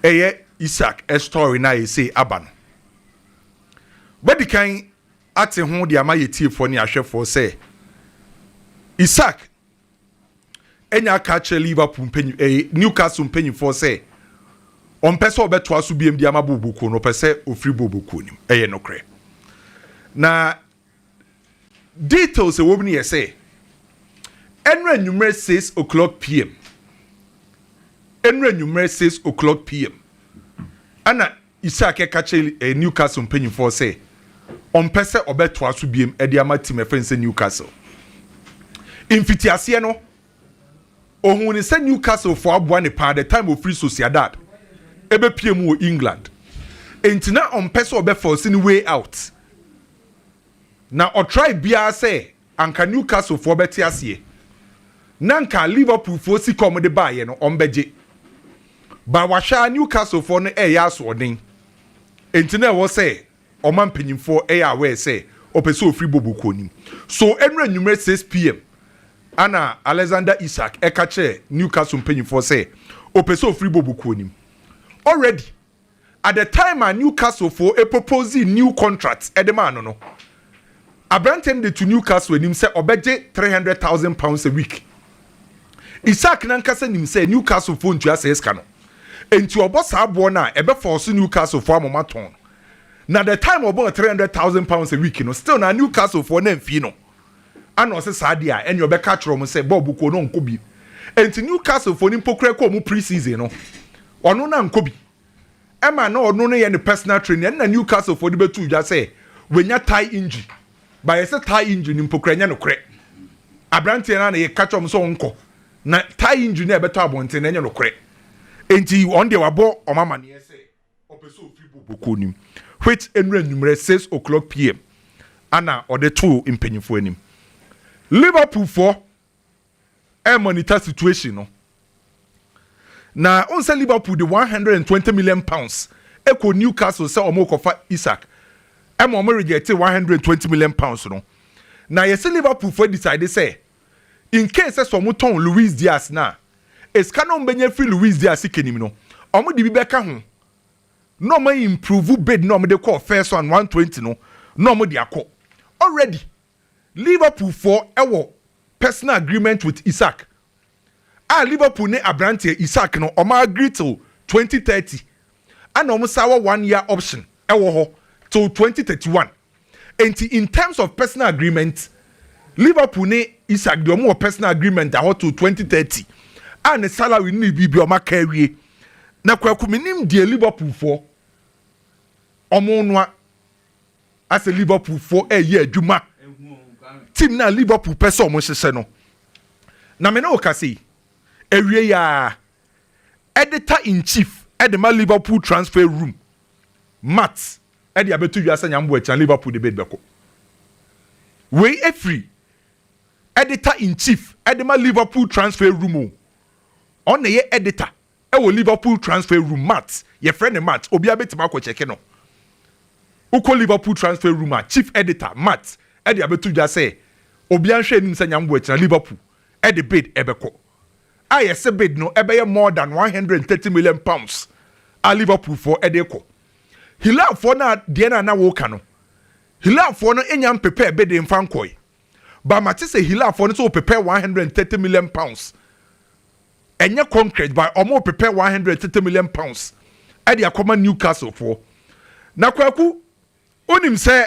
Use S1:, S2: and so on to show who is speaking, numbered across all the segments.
S1: Ɛyɛ Isak story no a ɛsei aba no. Wobɛdikan ate ho de ama yɛtiefoɔ ne ahwɛfoɔ sɛ Isak anya aka akyerɛ Liverpool mpanyi, eh, Newcastle mpanyifoɔ sɛ ɔmpɛ sɛ ɔbɛtoa so biam de ama bɔɔlbɔkuo no, ɔpɛ sɛ ɔfiri bɔɔlbɔkuo no mu. Ɛyɛ nokorɛ. Na Details a ɛwɔ mu no yɛ sɛ, ɛnora anwummerɛ six o'clock pm, ɛnora anwummerɛ six o'clock pm, ɛna Isak ɛka kyerɛ eh, Newcastle mpanyinfoɔ sɛ ɔmpɛ sɛ ɔbɛtoa so biem de ama tim ɛfɛn sɛ Newcastle. Mfitiaseɛ no, ohun ne sɛ Newcastle fo aboa ne paa the time ofiri Sociedad ɛbɛpie mu wɔ England. Enti na ɔmpɛ sɛ ɔbɛfɔsi ne way out. Na ɔtrae biara sɛ anka Newcastle foɔ bɛte aseɛ na anka Liverpool foɔ sika a wɔde baeɛ no wɔbɛgye. But wahwɛ ara Newcastle foɔ no reyɛ asoɔden. Enti na ɛwɔ sɛ wɔma mpanyinfoɔ yɛ aware sɛ ɔpɛ sɛ ɔfiri Bobo kɔ anim. So ɛnura anwummerɛ six pm ana Alexander Isak ɛka kyerɛɛ Newcastle mpanyinfoɔ sɛ ɔpɛ sɛ ɔfiri Bobo kɔ anim. Already. at the time a Newcastle foɔ proposee new contract de maa no no, aberanteɛ no de to Newcastle anim sɛ ɔbɛgye three hundred thousand pounds a week. Isak n'ankasa nim sɛ Newcastle foɔ ntua saa sika no, enti ɔbɔ saa boɔ no a ɛbɛfɔɔso Newcastle foɔ ama wɔatɔn no. Na the time ɔbɔɔ three hundred thousand pounds a week no, still na Newcastle foɔ no amfii no. Ana ɔse saa deɛ a ɛneɛ ɔbɛka akyerɛ wɔn sɛ bɔɔbo kuo no ɔnkɔ bi. Enti Newcastle foɔ no mpo koraa kɔɔ wɔn pre-season no, ɔno no ankɔ bi. Ɛma na ɔno no yɛ ne personal training. Ɛno na Newcastle foɔ de bɛtoo dwa sɛ wanya thigh injury. But yɛse thigh injury no mpo koraa ɛnyɛ nokorɛ. Aberanteɛ no ara na yɛka kyerɛ wɔn sɛ ɔnkɔ. Na thigh injury no a ɛbɛtɔ abɔnten no ɛnyɛ nokorɛ. Enti wɔn deɛ wabɔ wɔn amaneɛ sɛ. Ɔpɛ sɛ ɔfiri bɔ bɔkɔɔ no mu which ɛnura anwummerɛ six o'clock pm ana ɔde too mpanyinfoɔ anim. Liverpool foɔ ɛremonita situation no na wohu sɛ Liverpool de one hundred and twenty million pounds ɛkɔ Newcastle sɛ wɔrekɔfa Isak ɛma wɔn rejecte one hundred and twenty million pounds no na yɛsɛ Liverpool foɔ decide sɛ in case sɛ sɛ ɔmo tɔn Luis Diaz no a, esika no a ɔmo bɛnya afiri Luis Diaz sika nim no, ɔmo de bi bɛka ho na ɔmo a improve bid no a ɔmo de kɔɔ first round one twenty no na ɔmo de akɔ. Already Liverpool foɔ ɛwɔ personal agreement with Isak a Liverpool ne abranteɛ Isak no ɔmo agree till twenty thirty ɛna ɔmo san wɔ one year option ɛwɔ hɔ till twenty thirty one. Enti in terms of personal agreement, Liverpool ne Isak deɛ wɔn wɔ personal agreement ahɔ to 2030 a ne salary ne ne biribi a wɔn aka awie. Na kwaku menim deɛ Liverpool foɔ wɔn noa asɛ Liverpool foɔ ɛyɛ adwuma team na Liverpool pɛ sɛ wɔn hyehyɛ no. Na me ne wo ka sei awie ya editor in chief ɛde ma Liverpool transfer room Matt ɛde abɛto dwa sɛ Nyame bɔ akyi a Liverpool de bid bɛkɔ. Wei ɛfiri editor in chief ɛde ma Liverpool transfer room o. Ɔno na ɛyɛ editor ɛwɔ Liverpool transfer room Matt yɛfrɛ no Matt obiara bɛtumi akɔ kyɛke no. Wokɔ Liverpool transfer room a chief editor Matt ɛde abɛto dwa sɛ obiara nhwɛ anim sɛ Nyame bɔ akyi na Liverpool ɛde bid ɛbɛkɔ. a yɛse bid no ɛbɛyɛ more than one hundred and thirty million pounds a Liverpool foɔ ɛde rekɔ. Hilal foɔ no a deɛ no a na wɔreka no, Hilal foɔ no nya mpepɛɛ bid mfa nkɔe. But mate sɛ Hilal foɔ no sɛ wɔpepɛɛ one hundred and thirty million pounds. Ɛnyɛ concrete but wɔn repepɛ one hundred and thirty million pounds ɛde akɔma Newcastle foɔ. Na Kwaku, wonim sɛ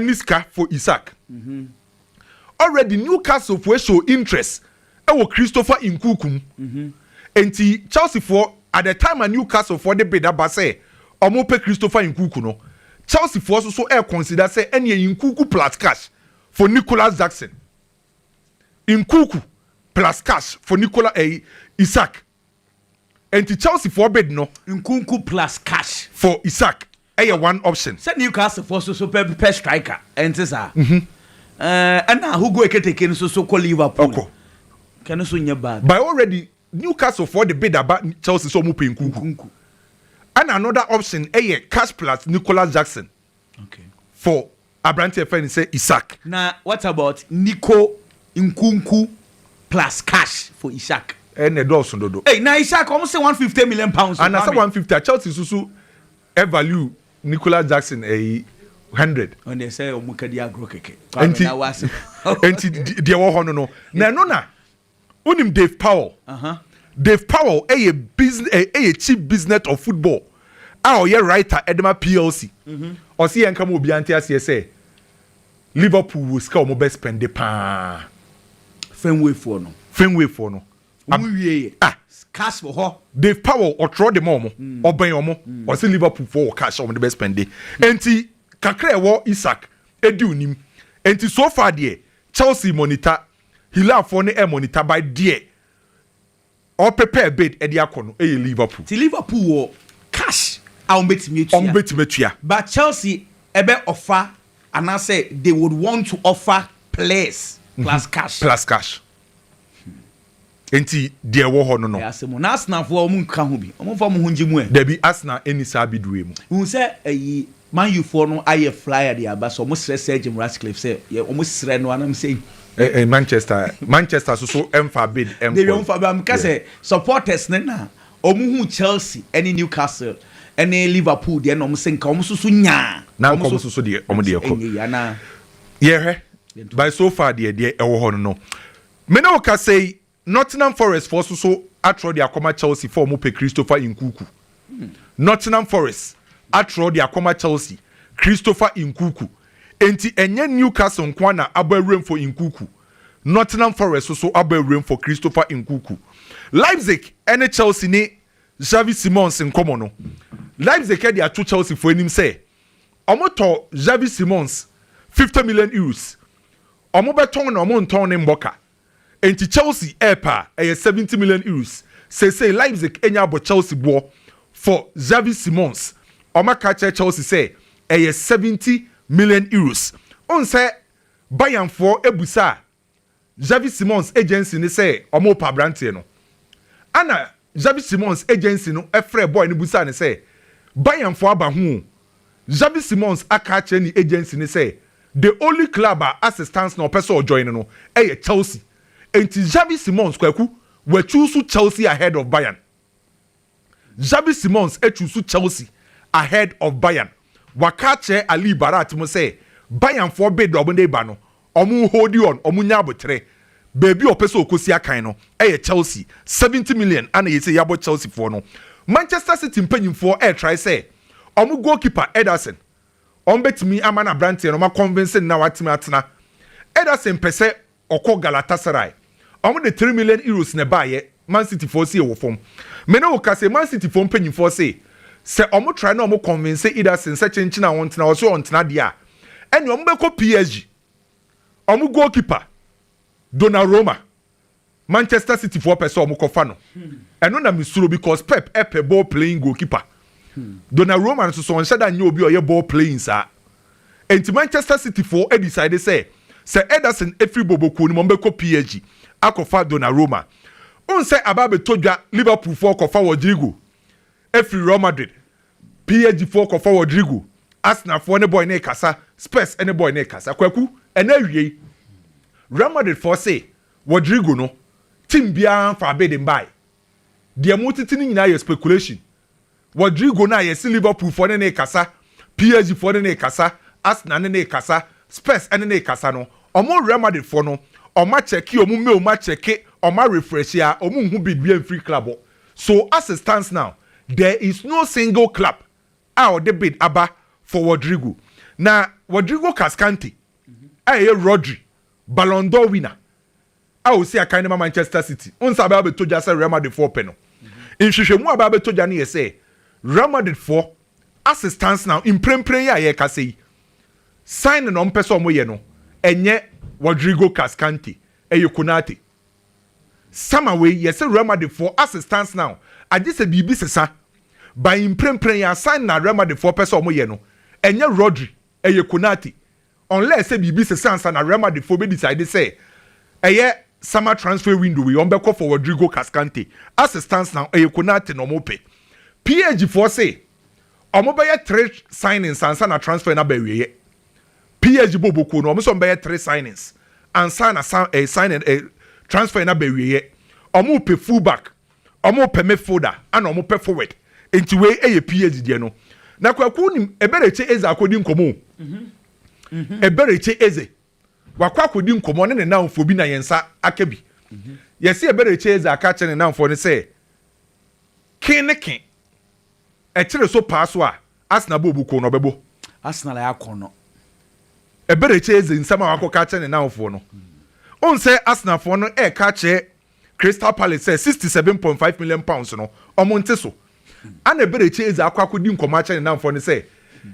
S1: ne sika for Isaac already Newcastle foɔ show interest wɔ Christopher Nkuku mu nti Chelsea foɔ at the time a Newcastle foɔ de bid aba sɛ wɔn pɛ Christopher Nkuku no Chelsea foɔ nso so ɛɛ consider sɛ ɛneɛ Nkuku plus cash for Nicholas Jackson Nkuku plus cash for Nicholas ɛɛ eh, Isaac nti Chelsea foɔ bid no Nkuku plus
S2: cash for Isaac. ɛyɛ one
S1: option. Sɛ
S2: Newcastle foɔ
S1: so so
S2: pɛ pɛ striker ɛnte saa? Ɛɛ ɛna Hugo Eketeke no so so kɔ Liverpool. Ɔkɔ. Ka ɛno so nyɛ bad. By already
S1: Newcastle foɔ de bid aba Chelsea sɛ ɔmo pɛ Nkunku. Nkunku. Ɛna another option ɛyɛ cash plus Nicolas Jackson. Okay.
S2: For
S1: aberante a yɛfrɛ no sɛ Isak. Na what about
S2: Nico Nkunku plus cash for Isak? Ɛɛ na ɛdɔɔso dodo.
S1: Ei na Isak wɔn se
S2: one fifty million pounds o maame. Anasɛ one fifty a Chelsea
S1: nso so ɛ value Nicolas Jackson ɛyi hundred. Wɔn deɛ sɛ wɔn
S2: kadi agorɔ kɛkɛ. Kwame na wɔ asem.
S1: Nti deɛ ɛwɔ hɔ no no na ɛno na. Wonim Dave Powell? Dave Powell yɛ chief business of football a ɔyɛ writer de ma PLC. Mhm. Ɔse yɛnka ma obiara nte aseɛ sɛ Liverpool wɔ sika a wɔbɛ spɛnde paa. Fenway
S2: foɔ no. Fenway foɔ no. Wɔn wie yɛ. Ah. Cash wɔ hɔ. Dave Powell ɔtwerɛ
S1: de ma wɔn. Mm. Ɔbɛn wɔn. Mm. Ɔse Liverpool foɔ wɔ cash a wɔn de bɛ spɛnde. Nti kakra ɛwɔ Isak edi onim. Nti so far deɛ Chelsea monitor Hilafoɔ ne Ermon Itabai deɛ ɔpepɛ Abed de akɔ no yɛ Liverpool. Ti Liverpool wɔ
S2: cash a wɔn bɛtumi atua. Wɔn bɛtumi atua.
S1: But Chelsea
S2: ɛbɛ offer anaasɛ they would want to offer players plus cash. Plus cash.
S1: Enti deɛ ɛwɔ hɔ no no. Ɛyɛ asɛm o. Na Arsenalfoɔ wɔn
S2: nka ho bi? Wɔn mfa wɔn ho ngye mu ɛ? Dabi, Arsenal nni
S1: saa bidue mu. Wohu sɛ ayi
S2: Man Ufoɔ no ayɛ flyer de aba sɛ wɔn srɛ Sir Jim Ratcliffe sɛ yɛ wɔn srɛ no anam sɛ yi. Ɛ ɛ Manchester
S1: Manchester so so ɛnfa bid ɛnkɔ. Dabi wɔn nfa bid meka sɛ
S2: supporters no na wɔn hu Chelsea ɛne Newcastle ɛne Liverpool deɛ na wɔn sɛ nka wɔn so so nya. Na nka wɔn so so deɛ
S1: wɔn deɛ kɔ. Ɛnyɛ yi anaa. Yɛhwɛ by so far deɛ deɛ ɛwɔ hɔ no no. Me ne wo kasa yi, Nottingham Forest foɔ so so atrɔ de akɔma Chelsea fa ɔmo pɛ Christopher Nkuku Nottingham Forest atrɔ de akɔma Chelsea Christopher Nkuku Enti ɛnyɛ Newcastle nkoa na abɔ awuram for Nkuku Nottingham Forest so so abɔ awuram for Christopher Nkuku Leipzig ne Chelsea ne Xavi Simons nkɔmɔ no Leipzig de ato Chelsea foɔ anim sɛ ɔmo tɔ Xavi Simons fifty million euros Wɔbɛtɔn na wɔntɔn no mmɔ ka. Enti Chelsea repɛ a, ɛyɛ seventy million euros. Seesei Leipzig anya abɔ Chelsea boɔ for Xavi Simons. Wɔaka akyerɛ Chelsea sɛ ɛyɛ seventy million euros. Wohu sɛ Bayernfoɔ bisaa Xavi Simons agency no sɛ wɔrepɛ aberanteɛ no. Ɛna Xabi Simons agency no frɛɛ boy no bisaa no sɛ, Bayernfo aba ho o? Xabi Simons aka akyerɛ ne agency no sɛ the only club a assistance na ɔpɛ sɛ ɔjoin no yɛ Chelsea. Enti Xabi Simons, Kwaku, wachuusu Chelsea ahead of Bayern. Xabi Simons achuusu Chelsea ahead of Bayern. Waka akyerɛ Ali Barat mo sɛ Bayernfoɔ bid a wɔde reba no, Ɔmo hoodi on, ɔmo nya aboterɛ. Baabi a ɔpɛ sɛ ɔkɔsi akan no yɛ Chelsea, seventy million ana ɛyɛ sei yɛabɔ Chelsea foɔ no. Manchester City mpanyinfoɔ ɛretrae sɛ ɔmo goal keeper Ederson ɔmo bɛtumi ama no abranteɛ no ɔmo akɔnvinse no na watumi atena. Ederson pɛsɛ ɔkɔ Galatasaray. Ɔmo de three million euros na ɛbaeɛ, Man City foɔ sie wɔ fam. Me ne wo ka sei, Man City foɔ mpanyinfoɔ se, sɛ ɔmo try na ɔmo convince Ederson sɛ kyenkyen a ɔntena, ɔse ɔntena deɛ a, ɛneɛ ɔmo bɛkɔ PSG. Ɔmo goalkeeper, Donnaroma, Manchester City foɔ pɛ sɛ ɔmo kɔfa no. Ɛno na me suro because Pep pɛ ball playing goalkeeper. Donnaroma nso so ɔnhyɛ da nyɛ obi a ɔyɛ ball playing saa. Enti Manchester City foɔ decide sɛ sɛ Ederson firi Bobo kuo no mu a wɔbɛkɔ PSG akɔfa Donnarumma. Wohu sɛ aba abɛtɔ dwa Liverpool foɔ kɔfa Rodrygo firi Real Madrid, PSG foɔ kɔfa Rodrygo, Arsenal foɔ ne boy no rekasa, Spurs ne boy no rekasa. Kwaku, ɛna awiei Real Madrid foɔ se Rodrygo no team biara mfaa bid mbaeɛ. Deɛ motete no nyinaa yɛ speculation. Rodrygo no a yɛse Liverpool foɔ ne no rekasa, PSG foɔ ne no rekasa, Arsenal ne no rekasa, Spurs ne no rekasa no, wɔn Real Madrid foɔ no, wɔn akyɛke wɔn mail mu akyɛke, wɔn arefresh a, wɔn nhu bid biara mfiri club hɔ. So as it stands now, there is no single club a wɔde bid aba for Rodrygo. Na Rodrygo Cascante a ɛyɛ Rodri Ballon d'Or winner, a osi akan no ma Manchester City nsa abɛba abɛtɔ gya sɛ Real Madridfoɔ repɛ no. Nhwehwɛmu a abɛba abɛtɔ gya no yɛ sɛ Real Madridfoɔ ase stance now mprempren yi a yɛrekasa yi, signing a wɔpɛ sɛ wɔyɛ no, ɛnyɛ Rodrigo Cascante, ɛyɛ Konate. Sama wei, yɛse Real Madridfoɔ ase stance now, agye sɛ biribi sesa. By mprempren yi ara, signing a Real Madridfoɔ pɛ sɛ wɔyɛ no, ɛnyɛ Rodri, ɛyɛ Konate. Unless sɛ biribi sesa ansa na Real Madrid foɔ bɛ decide sɛ ɛyɛ summer transfer window wei wɔn bɛkɔ for Rodrigo Cascante. As it stands now ɛyɛ Konate na wɔn pɛ. Page foɔ se wɔn bɛyɛ three signings ansa na transfer no aba awieɛ. Page bɔ bokuo no wɔn se wɔn bɛyɛ three signings ansa na sign eh signing eh transfer no aba awieɛ. Wɔn pɛ full back Ɔmo pɛ me folder ɛna ɔmo pɛ forward nti wei ɛyɛ PH deɛ no na kwaku nim ɛbɛrekye eze akɔdi nkɔmɔ o ɛbɛrekye eze wakɔ akɔdi nkɔmɔ ne ne nanfoɔ bi na yɛn nsa aka bi yɛsi ɛbɛrekye eze aka akyerɛ ne nanfoɔ no sɛ ken ne ken ɛkyere so paa so a Arsenal bɔ obu ko no ɔbɛbɔ Arsenal ayɛ akɔn
S2: no
S1: ɛbɛrekye eze nsɛm a wakɔ ka akyerɛ ne nanfoɔ no onsɛ Arsenal foɔ no ɛka akyerɛ Crystal Palace sɛ sixty seven point five million pounds no ɔmo nte so. Ana Eberechi Eze akɔ akɔdi nkɔmɔ akyerɛ ne namfoɔ no sɛ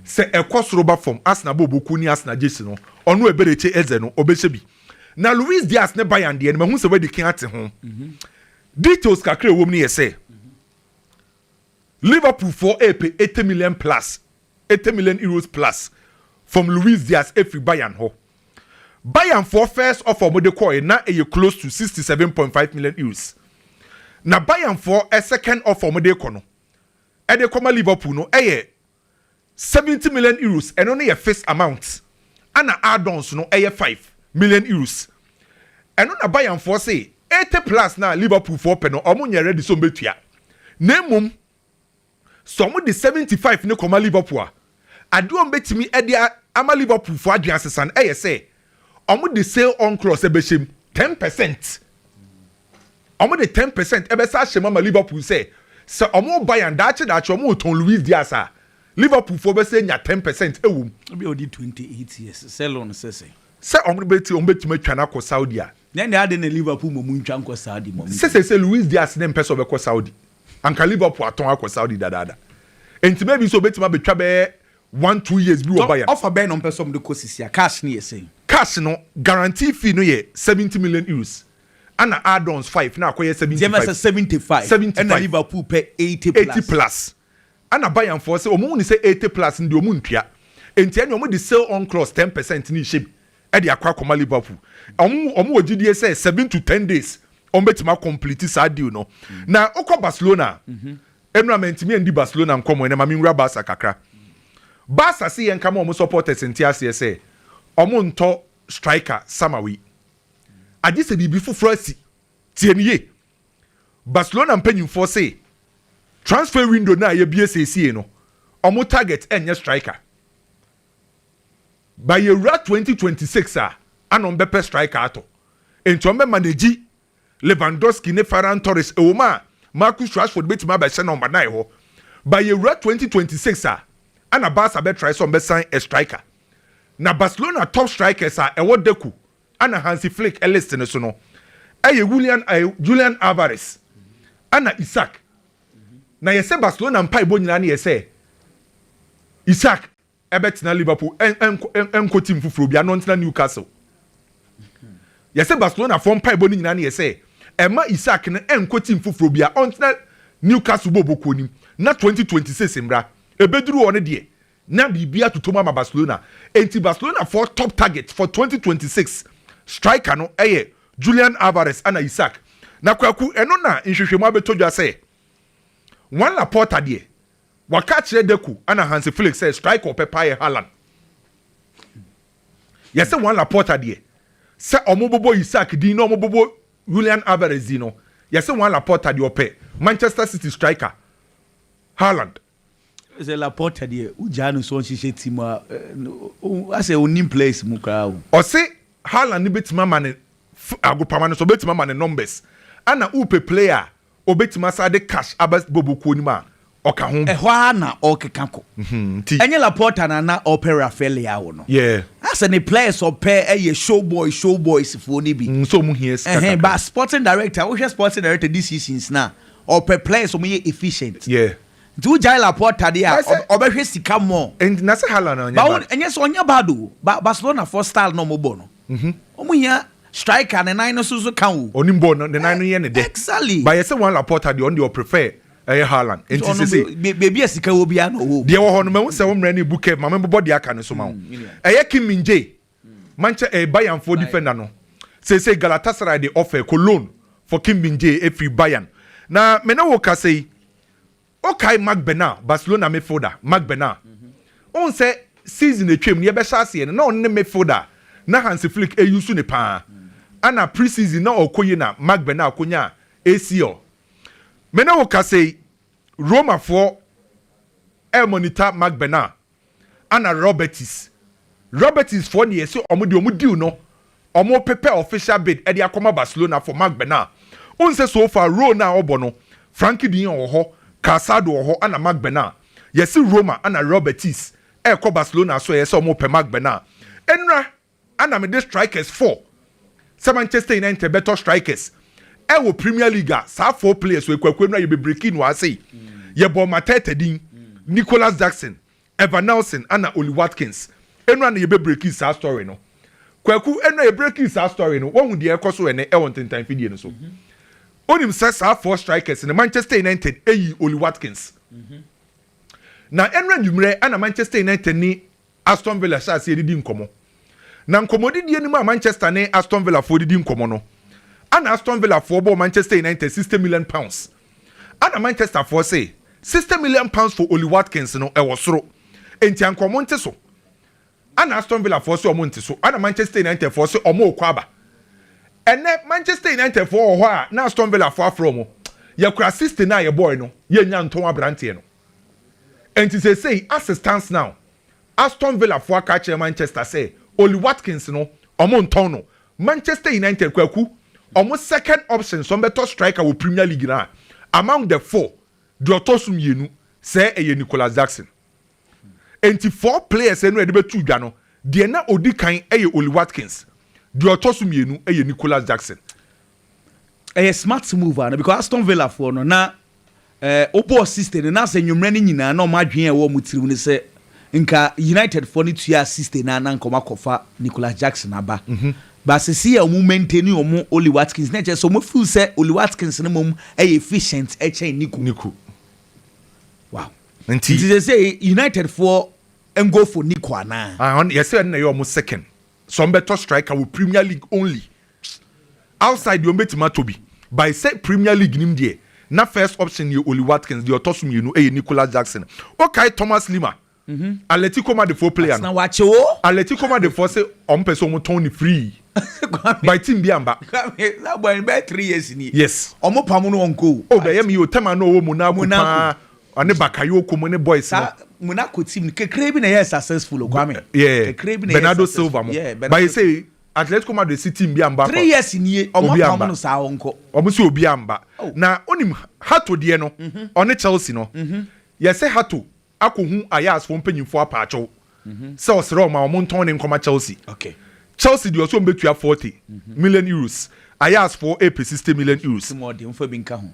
S1: sɛ ɛkɔ soro ba fam Arsenal bɔ ɔbokuo ne Arsenal gyesi no ɔno Eberechi Eze no ɔbɛhyɛ bi. Na Luis Diaz ne Bayern deɛ no mahu sɛ wadi kan ate ho. Details kakra a ɛwɔ mu no yɛ sɛ. Liverpool foɔ repɛ eighty million plus eighty million euros plus from Luis Diaz afiri Bayern hɔ. Bayern foɔ first offer a wɔde kɔɔɛ na ɛyɛ close to sixty seven point five million euros. Na Bayern foɔ second offer a wɔde rekɔ no ɛde rekɔma Liverpool no ɛyɛ 70 million euros, ɛno no yɛ fis amount, ɛna add-ons no ɛyɛ 5 million euros. Ɛno na Bayern foɔ se 80 plus no a Liverpool foɔ pɛ no wɔn nyɛ ready sɛ wɔn bɛtua. Na mmom sɛ wɔn de 75 no kɔma Liverpool a, adeɛ a wɔn bɛtumi de ama Liverpool foɔ adwene asesa no ɛyɛ sɛ ɔmo de sale on clause ɛbɛhyɛ mu ten percent ɔmo de ten percent ɛbɛsa ahyɛ mu ama liverpool sɛ sɛ ɔmo bayern daakye daakye ɔmo retɔn luis diaz a liverpool fo bɛsɛ nya ten percent ɛwɔ mu. ebi a ɔdi twenty eight
S2: years sale on sɛ sɛ. sɛ ɔmo bɛ ti
S1: ɔmo bɛ tumi atwa no akɔ saudi a. nyɛ nea adi na liverpool
S2: ma ɔmo ntwa nkɔ saudi ma ɔmo. sɛ sɛ sɛ luis diaz ne
S1: mpɛ sɛ ɔbɛkɔ saudi anka liverpool atɔn akɔ saudi dadaada nti maybe sɛ ɔbɛtumi abɛtwa bɛyɛ one two years bi wɔ Bayern. Tɔ ɔfa bɛn na ɔmpɛ sɛ ɔmo de kɔ
S2: sisi a cash no yɛ sɛn? Cash no
S1: guarantee fee no yɛ seventy million euros ɛna add-ons five na akɔyɛ seventy five. Gyama sɛ seventy five
S2: ɛna Liverpool pɛ eighty plus. Eighty plus
S1: ɛna Bayern foɔ sɛ ɔmo hu no sɛ eighty plus no deɛ ɔmo ntua nti ɛneɛ ɔmo de sale on clause ten percent no rehyɛ mu ɛde akɔ akɔma Liverpool. Ɔmo ɔmo wɔ gyidie sɛ seven to ten days ɔmo bɛtumi a complete saa deal no. Na wokɔ Barcelona a Ɛno a mantumi andi Barcelona nkɔmmɔ ɛnɛ ma me nwura Barca kakra. Barca se yɛnka ma wɔn supporters nte aseɛ sɛ wɔn ntɔ striker summer wei. Agye sɛ biribi foforɔ asi. Tie no yie. Barcelona mpanyinfoɔ se transfer window no a yɛbue seesiei no wɔn target nyɛ striker. By yɛwura twenty twenty six a ana wɔn bɛpɛ striker atɔ. Enti wɔn bɛ manage Lewandowski ne Ferran Torres, ɛwom a Marcus Rashford betumi abɛhyɛ no ma dan hɔ. Ba yewura twenty twenty six a, ɛna Barca bɛtrae sɛ wɔbɛsan a striker. Na Barcelona top strikers a ɛwɔ Deco ɛna Hansi Flick list no so no, ɛyɛ Julian ɛɛ Julian Alvarez ɛna Isak. Na yɛsɛ Barcelona mpaebɔ nyinaa no yɛ sɛ Isak Ɛbɛtena Liverpool ɛnkɔ team foforɔ biara na ɔntena Newcastle. Yɛsɛ Barcelona foɔ mpaebɔ no nyinaa no yɛ sɛ ɛma Isak no ɛnkɔ team foforɔ biara ɔntena Newcastle bɔɔbɔ kuo no mu na 2026 mmra. Ɛbɛduru hɔ no deɛ na biribiara atotɔ mu ama Barcelona. Ɛnti Barcelona foɔ top target for 2026 striker no ɛyɛ Julian Alvarez ɛna Isak. Na Kwaku ɛno na nhwehwɛmu abɛtɔ dwa sɛ Juan Laporta deɛ Waka akyerɛ Deco ɛna Hansi Flick sɛ striker ɔpɛ paa yɛ Haaland. Yɛse Juan Laporta deɛ sɛ ɔmo bobɔ Isak din na ɔmo bobɔ Julian Alvarez din no, yɛse Juan Laporta deɛ ɔpɛ Manchester City striker Haaland.
S2: Sɛ Laporta deɛ wo gyaa no sɛ ɔnhyehyɛ team a, asɛ ɔnnim players mu koraa o. Ɔse
S1: Haaland no bɛtumi ama no agopama no so, ɔbɛtumi ama no numbers. Ɛna wopɛ player a Obetumi asan de cash aba Bobo kuo no mu a, ɔka ho. Ɛhɔ ara na ɔrekeka
S2: kɔ. Nti. Ɛnyɛ Laporta na na ɔrepɛ Rafael Leao no? Yeah. Ayɛ sɛ ne
S1: players a
S2: ɔpɛ yɛ show boy show boys foɔ no bi. Sɛ wɔn hia sika kakra.
S1: But sporting
S2: director, wohwɛ sporting director this seasons no a, ɔpɛ players a wɔyɛ efficient. Yeah. Nti
S1: wogyae Laporta
S2: deɛ a, ɔbɛhwɛ sika more. Nti na sɛ Haaland anyɛ
S1: bad. Ɛnyɛ sɛ ɔnyɛ bad
S2: o, but Barcelona foɔ style na wɔbɔ no, wɔhia. Striker ne nan no so nso ka o. Ɔnim bɔɔl no, ne nan no yɛ
S1: ne dɛ. Exactly. But yɛsɛ Juan
S2: Laporta
S1: deɛ ɔno deɛ ɔprefer ɛyɛ Haaland. Nti Ɔno sese be- baabi a sika wɔ
S2: biara na ɔwɔ
S1: o. deɛ ɛwɔ hɔ
S2: no
S1: mahu sɛ wo mmerɛ no
S2: rebu
S1: curve ma mebobɔ deɛ
S2: aka
S1: no nso ma wo. Mm,
S2: menua.
S1: Ɛyɛ Kim Min
S2: Jae,
S1: Manche eh, Bayern foɔ Bayern. defender no. Seesei Galatasaray de offer kɔ loan for Kim Min Jae ɛfiri Bayern. Na me ne wo kasa yi, Wokae Marc Bernal, Barcelona midfielder, Marc Bernal. Wohu sɛ season a atwam no yɛbɛhyɛ aseɛ no na ɔno ne midfielder a na Hansi Flick use no paa. Ana pre-season na ɔkɔ yie na Marc Bernal kɔnyaa ACL. Me ne wo kasa yi, Romafoɔ remonita Marc Bernal Ana Robertis. Robertis foɔ deɛ se ɔmo deɛ ɔmo deal no ɔmo pepɛ official bid ɛde akɔma Barcelona for Marc Bernal. Wohu sɛ so far role no a ɔbɔ no Frankie de Jong wɔ hɔ, Calçado wɔ hɔ ɛna Marc Bernal. Yɛse Roma ɛna Robertis ɛɛkɔ Barcelona so ɛyɛ sɛ ɔmo pɛ Marc Bernal. Ɛnura Ana mede strikers four sɛ Manchester United bɛtɔ strikers ɛwɔ Premier League a saa four players wɔ ekuakuo no a yɛbɛ breaki no ase yi. Yɛbɔɔ Mateta din, Nicholas Jackson, Evan Nelson ana Ollie Watkins. Eno ana yɛbɛ breaki saa story no. Kwaku, eno a yɛbreaki saa story no, woahu deɛ ɛrekɔ so ɛnɛ ɛwɔ ntentan fidie no so. Wonim sɛ saa four strikers no Manchester United yii Ollie Watkins. Na ɛno anwummerɛ ana Manchester United ne Aston Villa hyɛɛ aseɛ didi nkɔmmɔ. Na nkɔmmɔdidie no mu a Manchester ne Aston Villa foɔ didi nkɔmmɔ no, ɛna Aston Villa foɔ bɔɔ Manchester United sixty million pounds. Ɛna Manchester foɔ se, sixty million pounds for Ollie Watkins no, ɛwɔ soro. Enti anka wɔn nte so. Ɛna Aston Villa foɔ se wɔn nte so. Ɛna Manchester United foɔ se wɔn rekɔ aba. Ɛnɛ Manchester United foɔ wɔ hɔ a na Aston Villa foɔ afrɛ wɔn, yɛkora sixty no a yɛbɔɔe no, yɛnnya ntɔn aberanteɛ no. Enti seesei, as it stands now, Aston Villa fo aka akyerɛ Manchester sɛ Ollie Watkins no, wɔntɔn no. Manchester United, Kwaku, wɔn second option sɛ wɔbɛtɔ striker wɔ Premier League no a, among the four, deɛ ɔtɔ so mmienu, sɛ ɛyɛ Nicolas Jackson. Enti four players no a yɛde bɛto dwa no, deɛ na ɔdi kan yɛ Ollie Watkins, deɛ ɔtɔ so mmienu yɛ Nicolas Jackson.
S2: ɛyɛ smart move ana because Aston Villa foɔ no na ɛɛ eh, wobɔ assistant no na sɛ nnwommerɛ no nyinaa na wɔn adwene a ɛwɔ wɔn tirim no sɛ nka United foɔ no tua assistant no na nka wɔn akɔfa Nicholas Jackson aba mm -hmm. baasisi a wɔn maintain wɔn Oli Watkins na ɛkyɛ sɛ wɔn feel sɛ Oli Watkins no mmom ɛyɛ efficient ɛkyɛn Nico. Nico. Wow. Nti nti sɛ sɛ United foɔ ngo for Nico anaa. Ah, yɛsɛ ɛna yɛ wɔn
S1: second sɛ wɔn bɛtɔ striker wɔ Premier League only. Outside deɛ wɔbɛtumi atɔ bi by sɛ Premier League nim deɛ na first option yɛ Ollie Watkins, deɛ ɔtɔ so mmienu yɛ Nicolas Jackson. Wokae Thomas Lemar, Atletico Madridfoɔ player no? Atletico
S2: Madridfoɔ se
S1: wɔpɛ sɛ wɔtɔn no free but team
S2: biara mma.
S1: Yes.
S2: Oh bɛyɛ me o, tɛm a na
S1: ɔwɔ Monaco paa, ɔne Bakayoko mo ne boys no.
S2: Yeah, Bernardo
S1: Silva mo. But he say Atletico Madrid si team bi a mba kɔ. Three years nie ɔmo
S2: apam no saa ɔnkɔ. Ɔmo se obiaa mba
S1: na onim Hato deɛ no ɔne Chelsea no yɛse Hato akɔ hu Ajax foɔ mpanyinfoɔ apaakyɛw sɛ ɔsrɛ ɔmo a ɔmo ntɔn ne nkɔma Chelsea. Chelsea
S2: deɛ ɔse ɔmo
S1: bɛtua forty million euros Ajax foɔ ɛɛpɛ sixty million euros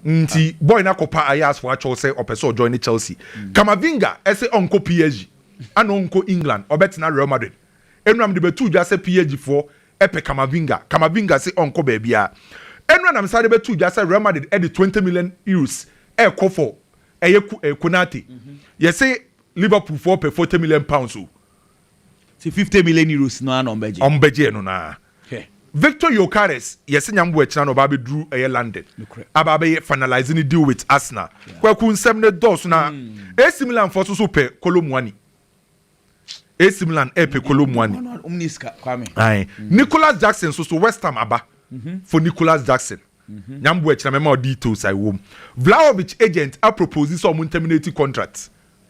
S2: nti boy no akɔ
S1: pa Ajax foɔ akyɛw sɛ ɔpɛ sɛ ɔjoine Chelsea. Camavinga ɛse ɔnkɔ PSG ɛna ɔnkɔ England ɔbɛtena Real Madrid Enura mede bɛtoo dwa sɛ PAG foɔ pɛ Camavinga. Camavinga se ɔnkɔ baabiara. Enura na mesane de bɛtoo dwa sɛ Real Madrid de twenty million Euros rekɔ for ɛyɛ Konate. Yɛse Liverpool foɔ pɛ forty million pounds o. Sɛ
S2: fifty million Euros no ara na wɔbɛgye. Wɔbɛgye ɛno no ara.
S1: Hwɛ. Victor Gyokeres, yɛse Nyamboakyena na ɔba abɛduru ɛyɛ London Nokorɛ. aba abɛyɛ finalise ne deal with Arsenal. Kwaku nsɛm no dɔɔso na AC Milan foɔ nso so pɛ Kolo Muani. AC Milan ɛpɛ Kolo Muani ae Nicolas Jackson nso so West Ham aba mhm. for Nicolas Jackson mhm. nyambo ɛkyerɛ mɛma ɔ details a ɛwɔ mu Vlahovic agent a propose sɛ ɔmo nterminate contract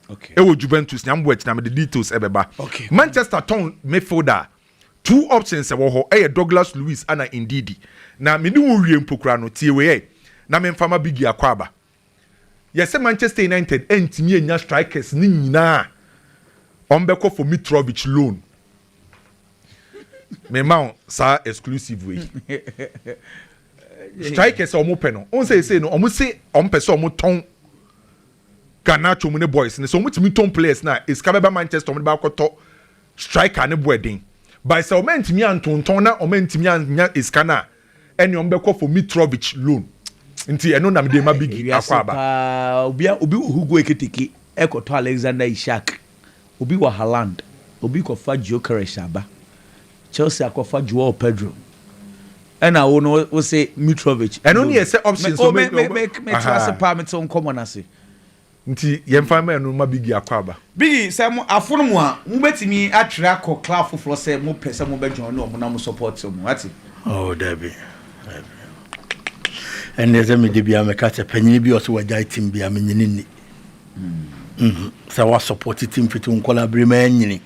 S1: ɛwɔ
S2: Juventus nyambo
S1: ɛkyerɛ mɛde details ɛbɛba Manchester
S2: tɔn
S1: midfielder two options ɛwɔ hɔ ɛyɛ Douglas Luiz ana Ndidi na mene wo wie mpokura no tie wei na memfama bigi akɔ aba Yɛsɛ Manchester United antumi annya strikers no nyinaa a wɔbɛkɔ for Mitrovic loan. Mema wo saa exclusive wei. Strikers a wɔpɛ no, wɔn sɛ ɛsei no wɔn se wɔn pɛ sɛ wɔn tɔn Garnacho mu ne boys no sɛ wɔn tumi tɔn players na esika bɛba Manchester wɔn de ba akɔtɔ striker ne bo ɛden. By sɛ wɔn antumi antontɔn na wɔn antumi annya esika no a. ɛne ɔmo bɛkɔ for Mitrovic loan nti ɛno na mede ma Biggie Akwaaba. paa obi a obi wɔ
S2: Hugo Ekitike ɛkɔtɔ Alexander Isak obi wɔ Haaland obi kɔfa Gyökeres aba Chelsea akɔfa Joao Pedro ɛna wo no wose Mitrovic ɛno ne yɛ sɛ options
S1: me me me me te
S2: ase paa me te nkɔmɔ no ase Nti
S1: yɛmfa mma ɛno mma Biggie akɔ aba. Biggie, sɛ mo
S2: afono mo a, mo bɛtumi atwerɛ akɔ club foforɔ sɛ mo pɛ sɛ mo bɛ join wɔn na mo support wɔn, wate. Oh dabi,
S3: dabi, ɛnneɛ sɛ me dabiara me ka sɛ panyini bi ɔsɛ wagyae team bi a menyini nni. Mm. Sɛ wa support team fiti wo nkɔla bere ma ɛnyini,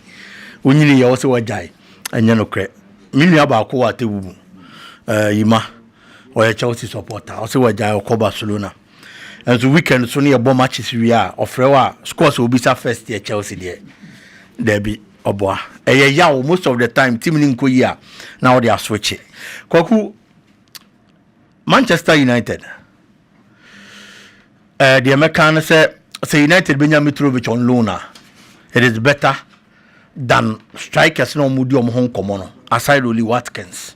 S3: wonyini yɛ ɔsɛ wagyae, ɛnyɛ no korɛ. Me nua baako wɔ atewu mu, uh, Yima, ɔyɛ Chelsea supporter, ɔsɛ wagyae ɔkɔ Barcelona. Nso weekend so no yɛbɔ matches wie a ɔfrɛ wo a scores a obisa first yɛ Chelsea deɛ daabi ɔboa ɛyɛ yaw most of the time team no nkɔ yi a na ɔde aswitche kwaku Manchester United ɛɛ eh, deɛ mɛka no sɛ sɛ United bɛnya Mitrovic on loan a it is better than strikers na wɔn di wɔn ho nkɔmɔ no aside Oli Watkins.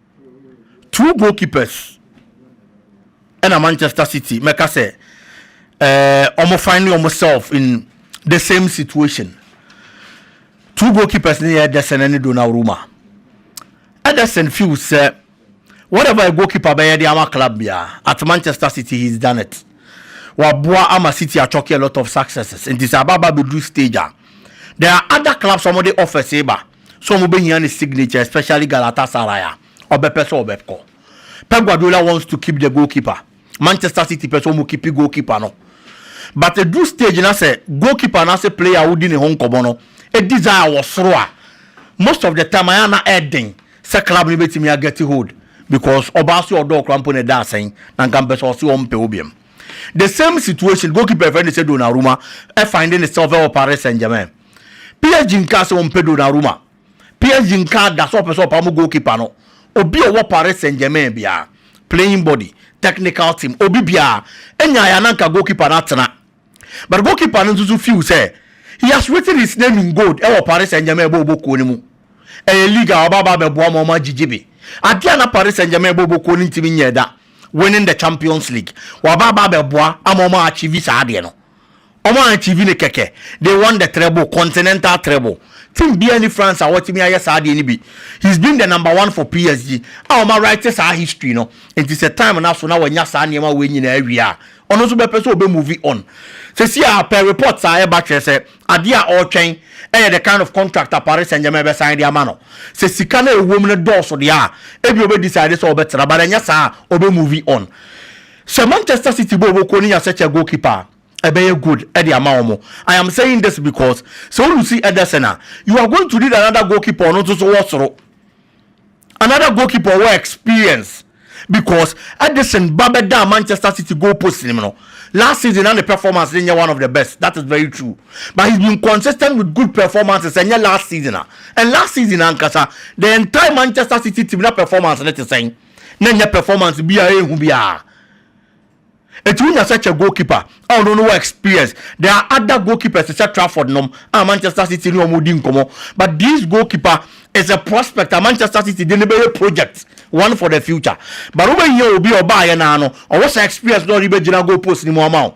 S3: two goalkeepers ɛna manchester city mɛka sɛ ɛɛ wɔn find wɔn self in the same situation two goalkeepers ne yɛ ɛdɛsɛn ne donnarumma ɛdɛsɛn feel sɛ whatever a goalkeeper bɛyɛ de ama club biara at manchester city he is done it waboa ama city atwɔke a lot of successes nti sɛ ababa bɛduru stage a there are other clubs wɔn de offers ba. sɛ ɔmo bɛhia ne signature especially Galatasaray a ɔbɛpɛ sɛ ɔbɛkɔ. Pep Guardiola wants to keep the goalkeeper, Manchester City pɛ sɛ ɔmo keepi goalkeeper no but ɛduru stage na sɛ goalkeeper anaasɛ player a wodi ne ho nkɔmɔ no desire wɔ soro a most of the time ayɛ a na ɛden sɛ club no bɛtumi a get hold because ɔbaa se ɔdɔ wo koraa mpo na ɛda asɛn na nka mpɛ sɛ ɔse ɔmpɛ wo biam. The same situation goalkeeper a yɛfrɛ no sɛ Donnarumma find ne self wɔ Paris Saint-Germain. PSG nkaa sɛ wɔmpɛ Donnarumma. PSG nkaa da sɛ wɔpɛ sɛ wɔpam goalkeeper no, obi a ɔwɔ Paris Saint-Germain biara, playing body, technical team, obi biara, nyaeɛ a na nka goalkeeper no atena. But goalkeeper no nso so feel sɛ he has written his name in gold wɔ Paris Saint-Germain bɔ ɔbɔ kuo no mu. Ɛyɛ league a ɔbɛba abɛboa ma wɔagyegye bi. Adeɛ a na Paris Saint-Germain bɔ ɔbɔ kuo no ntumi nyɛɛ da, winning the Champions League, waba aba abɛboa ama wɔn a achieve saa adeɛ no. Ɔmo achieve no kɛkɛ, they won the treble, continental treble. Team biaa nni France a wɔatumi ayɛ saa adeɛ no bi. He's been the number one for PSG a wɔn a write saa history no, nti sɛ time no aso na wanya saa nneɛma wei nyinaa awie a, ɔno nso bɛpɛ sɛ ɔbɛ move on. Seesei a per reports a ɛba kyerɛ sɛ adeɛ a ɔretwɛn yɛ the kind of contract a Paris Saint Germain bɛsan de ama no. Sɛ sika no a ɛwɔ mu no dɔɔso deɛ a, ebia ɔbɛ decide sɛ ɔbɛtra but ɛnyɛ saa a, ɔbɛ move on. Sɛ Manchester City bɔ wɔn kuo no nya sɛkyɛ goal keeper a ɛbɛyɛ good de ama wɔn. I am saying this because sɛ wo lusi Ederson a you are going to need another goal keeper ɔno nso so wɔ soro. Another goal keeper ɔwɔ experience because Ederson ba bɛdaa Manchester City goal post nim no last season na ne performance ne nyɛ one of the best that is very true but he's been consistent with good performances ɛnyɛ last season a and last season ankasa the entire Manchester City team na performance ne te sɛn. na ɛnyɛ performance bi a ɛyɛ hu biara. Enti wonya sɛ kyɛ goalkeeper a ɔno no wɔ experience. There are other goalkeepers te sɛ Trafford nom a Manchester City ne wɔn di nkɔmmɔ but this goalkeeper is a prospect a Manchester City de no bɛyɛ project one for the future but wobɛhia obi a ɔbaeɛ no ara no ɔwɔ saa experience na ɔde bɛgyina goal post no mu ama wo.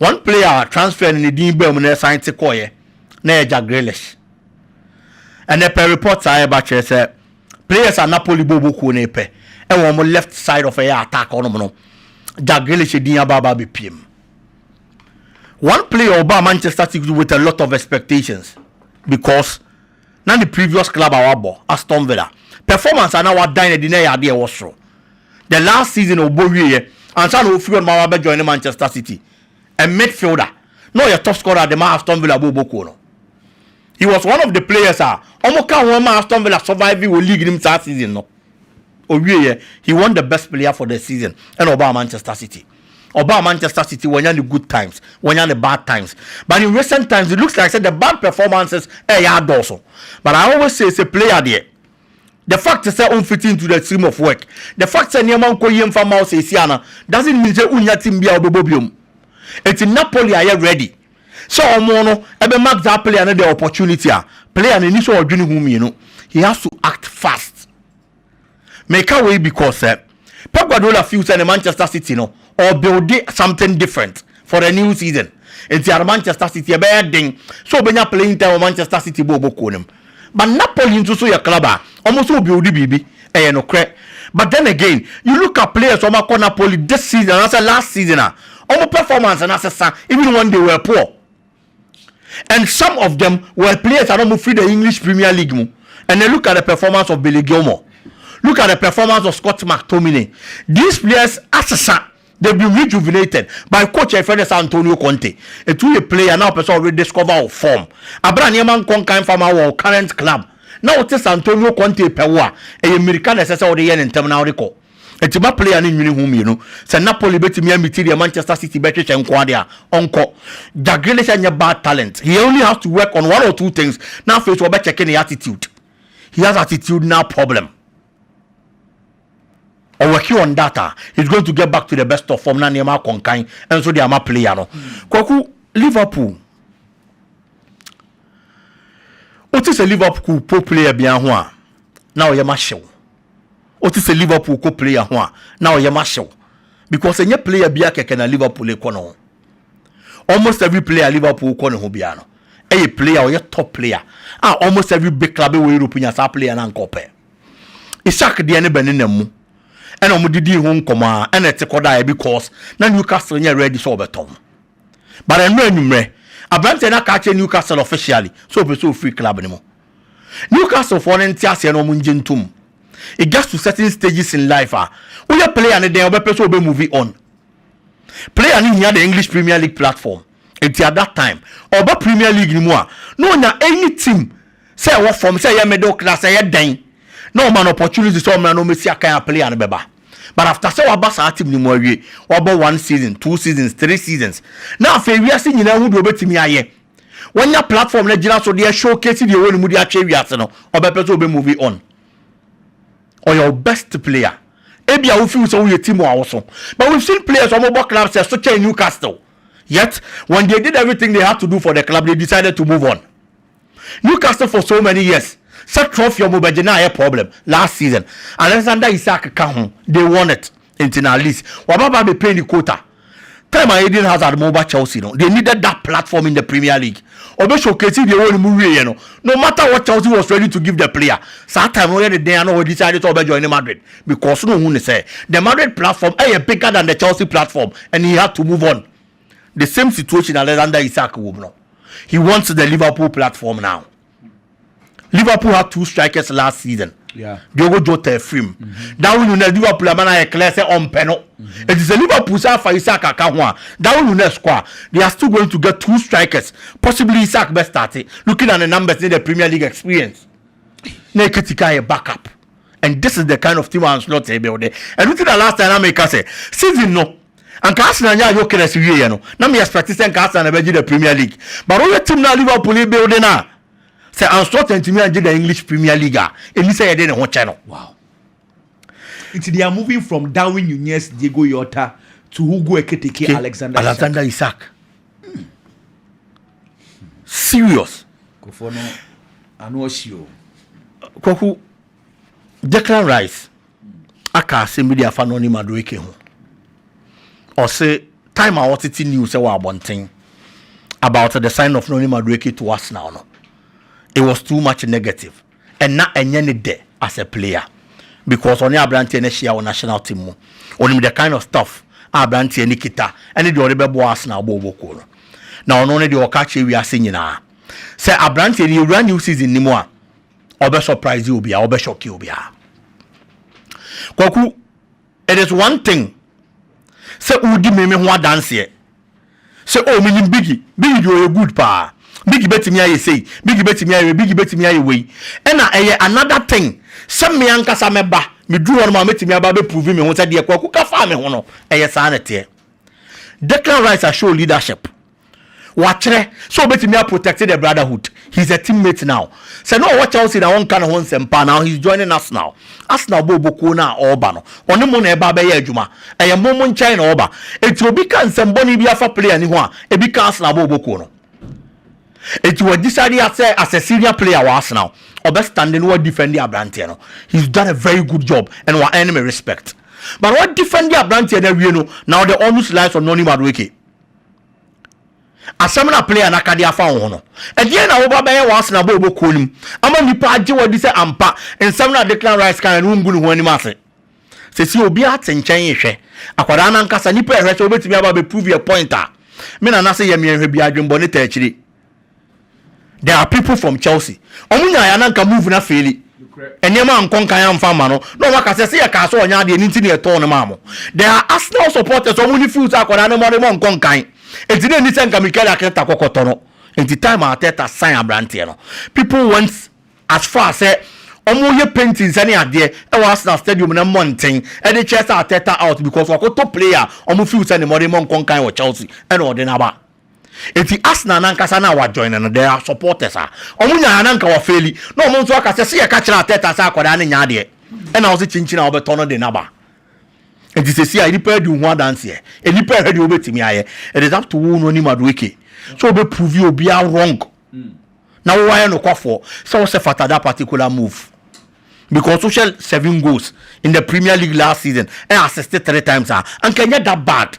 S3: Wɔn player a transfer no ne din baa mu na ɛsan te kɔeɛ na ɛyɛ Jack Grealish. Ɛnɛ pɛ report a ɛba kyerɛ sɛ players a Napoli bɔ ɔbɔ kuo no pɛ ɛwɔ wɔn left side of ɛyɛ attack ɔnom no Jack Grealish din aba aba abɛpiem. One player ɔbaa Manchester City with a lot of expectations because na ne previous club a wabɔ Aston Villa performance a na wadan adi na ɛyɛ adeɛ ɛwɔ soro. the last season a ɔbɔ wieɛ ansa na ɔfiri hɔ nom a wabɛ joine Manchester City, a midfielder, na ɔyɛ top scorer de ma Aston Villa bɔ ɔbɔ kuo no. He was one of the players a wɔn ka ho ma Aston Villa survive wɔ league no mu saa season no. Ɔwieɛ, he won the best player for the season ɛna ɔbaa Manchester City. Ɔbaa Manchester City wanya ne good times, wanya ne bad times. But in recent times it looks like sɛ the bad performances ɛyɛ adɔɔso. But I always say sɛ player deɛ, The fact sɛ wo fit into the stream of work, the fact sɛ nneɛma nkɔ yie mfa mma wo seesia no doesn't mean sɛ wonnya team bi a wobɛbɔ biom. Enti Napoli ayɛ ready sɛ wɔn no bɛ mark saa player no the opportunity a player no ɛni sɛ ɔdwene ho mmienu, he has to act fast. Meka wei because sɛ Pep Guardiola feel sɛ ne Manchester City no ɔrebuilde something different for the new season nti ara Manchester City ɛbɛyɛ den sɛ ɔbɛnya playing time wɔ Manchester City bɔɔl bɔ kuo no mu but Napoli nso so yɛ club a wɔn nso rebuilde biribi ɛyɛ nokorɛ but then again you look at players wɔn akɔ Napoli this season anaasɛ last season a wɔn performance no asesa even when they were poor and some of them were players a na wɔfiri the English Premier League mu. And then look at the performance of Billy Gilmour. Look at the performance of Scott McTominay. These players asesa. They've been rejuvenated by coach a friend is Antonio Conte. It will a player now person rediscover our form. Abra nneɛma nkɔ nkan fa ma wɔ current club. Na wote sɛ Antonio Conte pɛ wo a, ɛyɛ mmirika na ɛsɛ sɛ wode yɛ ne ntɛm na wode kɔ. Enti ma player no nnwene ho mmienu. Sɛ Napoli betumi amiti deɛ Manchester City bɛhwehwɛ nko ara deɛ a, ɔnkɔ. Jack Grealish nyɛ bad talent, he only has to work on one or two things na afei nso wɔbɛkyɛke ne attitude. He has attitudinal problem. Ɔworki on that a, he's going to get back to the best of form na nneɛma akɔ nkan nso de ama player no. Kwaku, Liverpool, wote sɛ Liverpool po player biara ho a, na ɔyɛ ma hyew. Wote sɛ Liverpool kɔ player ho a na wo yam ahyew because ɛnyɛ player biara kɛkɛ na Liverpool rekɔ ne ho. Almost every player Liverpool kɔ ne ho biara no ɛyɛ player ɔyɛ top player a almost every big club wɔ Europe nya saa player no anka ɔpɛ. Isak deɛ ne bɛnenam mu ɛna wɔn didii ho nkɔmɔ ara ɛna ɛte kɔdaeɛ because na Newcastle nyɛ ready sɛ ɔbɛtɔn. But ɛnora anwummerɛ aberanteɛ no aka akyerɛ Newcastle officially sɛ ɔpɛ sɛ ɔfiri club no mu. Newcastlefoɔ no nte aseɛ na wɔn ngye ntom. It gets to certain stages in life a, woyɛ player no dɛn a wobɛpɛ sɛ wobɛ move on. Player no hia the English Premier League platform, nti at that time, ɔba Premier League no mu a, na ɔnya any team sɛ ɛwɔ fam, sɛ ɛyɛ middle class, ɛyɛ dɛn, na wɔma no opportunity sɛ ɔmmra na ɔmmɛsi akan a player no bɛba. But after sɛ waba saa team no mu awie, wabɔ one season, two seasons, three seasons, na afei wiase nyinaa hu deɛ ɔbɛtumi ayɛ, wanya platform no agyina so de showcase deɛ ɛwɔ ne mu de akyɛ wiase no ɔbɛpɛ sɛ ɔbɛ movie on ɔyɛ ɔ best player ebi a wofiw sɛ woyɛ team a woso but we've seen players wɔn bɔ club sɛ so kyɛn Newcastle yet when they did everything they had to do for the club they decided to move on Newcastle for so many years sɛ trophy wɔn bɛgye na ayɛ problem last season Alexander Isak ka ho they won it nti na at least wɔn aba abɛpay ne quota Time a Eden Hazard ma ɔba Chelsea no, they needed that platform in the Premier League. Ɔbɛ showcase deɛ ɛwɔ ne mu wieɛ no, no matter what Chelsea was ready to give the player. Saa time no ɔyɛ ne dɛn a na ɔ decide sɛ ɔbɛ joine Madrid because na ɔhu ne sɛ the Madrid platform ɛyɛ bigger than the Chelsea platform and he had to move on. The same situation Alexander Isak wɔ mu no, he wants the Liverpool platform now. Liverpool had two strikers last season. Yeah. Diogo Jota
S2: free
S3: mu. Mm-hmm. Darwin Nunez Liverpool ama na yɛ clear sɛ ɔmpɛ no. Mm-hmm. It is a Liverpool sɛ afa Isaac aka ho a Darwin Nunez kɔ a they are still going to get two strikers possibly Isaac bɛ start looking at the numbers in the Premier League experience. Na Ekitika yɛ backup and this is the kind of team Ancelotti build. Ɛnu ti na last time na mi ka sɛ season no. Anka Arsenal nyaa Gyökeres wieɛ no na me expect sɛ nka Arsenal na bɛgye the Premier League but wohwɛ team no a Liverpool rebuild no a sɛ Ancelotti antumi angye the English Premier League a ɛni sɛ yɛde ne ho kyɛ no. Wow.
S2: Nti they are moving from Darwin Nunez, Diego Jota to Hugo Ekitike, okay. Alexander, Alexander Isak.
S3: Isak. Hmm. Serious. Kofo no
S2: ano ɔhyi o.
S3: Kwaku Declan Rice. aka asɛm bi de afa Nonnie Madueke ho. Ɔse time a wɔtete news sɛ wɔ abɔnten about the sign of Nonnie Madueke to Arsenal no, it was too much negative and na ɛnyɛ ne dɛ as a player because ɔne aberanteɛ no ahyia wɔ national team mu. Ɔnim the kind of stuff a aberanteɛ no kita ɛne deɛ ɔde bɛboa Arsenal bɔ ɔbɔ kuo no. Na ɔno ne deɛ ɔka kyerɛ wiase nyinaa sɛ aberanteɛ no yɛwura new season no mu a, ɔbɛ surprise obi a ɔbɛ shock obi a kwaku it is one thing sɛ wodi meme ho adanseɛ sɛ o oh, menim bigi bigi deɛ ɔyɛ good paa bigi bɛtumi ayɛ sei bigi bɛtumi ayɛ bigi bɛtumi ayɛ wei ɛna ɛyɛ another thing sɛ me ankasa mɛba meduru hɔ no ma mɛtumi aba bɛprovi me ho sɛ deɛ kwaku ka faa me ho no ɛyɛ saa na ɛteɛ Declan Rice a show leadership Wakyerɛ sɛ obetumi a protect the brotherhood. He is a teammate now. Sɛ na ɔwɔ Chelsea na wɔnka ne ho nsɛm paa, now he is joining Arsenal. Arsenal bɔɔ bɔ kuo no a ɔreba no, ɔne mo na ɛreba abɛyɛ adwuma. Ɛyɛ mo mo nkyɛn na ɔreba. Enti obi ka nsɛm bɔne bi afa player no ho a, ebi ka Arsenal bɔɔ bɔ kuo no. Enti wa decide a sɛ as a senior player wɔ Arsenal, ɔbɛ stande na wa defend abranteɛ no. He is done a very good job and wa earn me respect. But wa defend abranteɛ no awie no, now the onus lies on Noni Madueke. Asɛm no a player no aka de afa wo ho no, ɛdeɛn na woba bɛyɛ wɔ Arsenal bɔɔlbɔ kuo no mu ama nnipa agye wo adi sɛ ampa nsɛm no a Declan Rice kaeɛ no wongu ne ho anim ase? Seesei obiara te nkyɛn rehwɛ. Akwadaa no ankasa, nnipa rehwɛ sɛ ɔbɛtumi aba abɛ prove a point a me nana se yɛ me anhwɛ biara adwemmɔne taa akyire. There are people from Chelsea ɔmo nyae a na nka move no afeeli, nneɛma ankɔ nkan amfa amma no na ɔmo aka sɛ sɛ yɛkaa sɛ ɔnyɛ adeɛ no nti na yɛtɔɔ no maa mo. There are Arsenal supporters a ɔmo ne feel sɛ akwadaa no mmɔdemmɔ nkɔ nkan nti na ɛnni sɛ nka Mikel Arteta kɔ kɔtɔ no nti time a Arteta sign aberanteɛ no people went as far sɛ ɔmo yɛ paintings ne adeɛ ɛwɔ Arsenal stadium no mmɔnten de kyerɛ sɛ Arteta out because wakɔtɔ player a ɔmo feel sɛ ne mmɔdemmɔ nkɔ nkan wɔ Chelsea ɛna ɔde no aba. Enti Arsenal no ankasa na wɔajoine no, there are supporters a wɔn nyaeɛ na anka wɔafeeli na wɔn nso aka sɛ se yɛka kyerɛ Arteta sɛ akwadaa no nyɛ adeɛ ɛna ɔse kyinkyin a wobɛtɔ no de no aba. Enti seesei a nnipa adi wo ho adanseɛ, nnipa rehwɛ deɛ wobɛtumi ayɛ. It is up to wo no ne Madueke sɛ wobɛ prove obia wrong na wo ayɛ nokwafoɔ sɛ wo sɛfata that particular move because wohwɛ seven goals in the Premier League last season ɛ assist three times a anka ɛnyɛ that bad.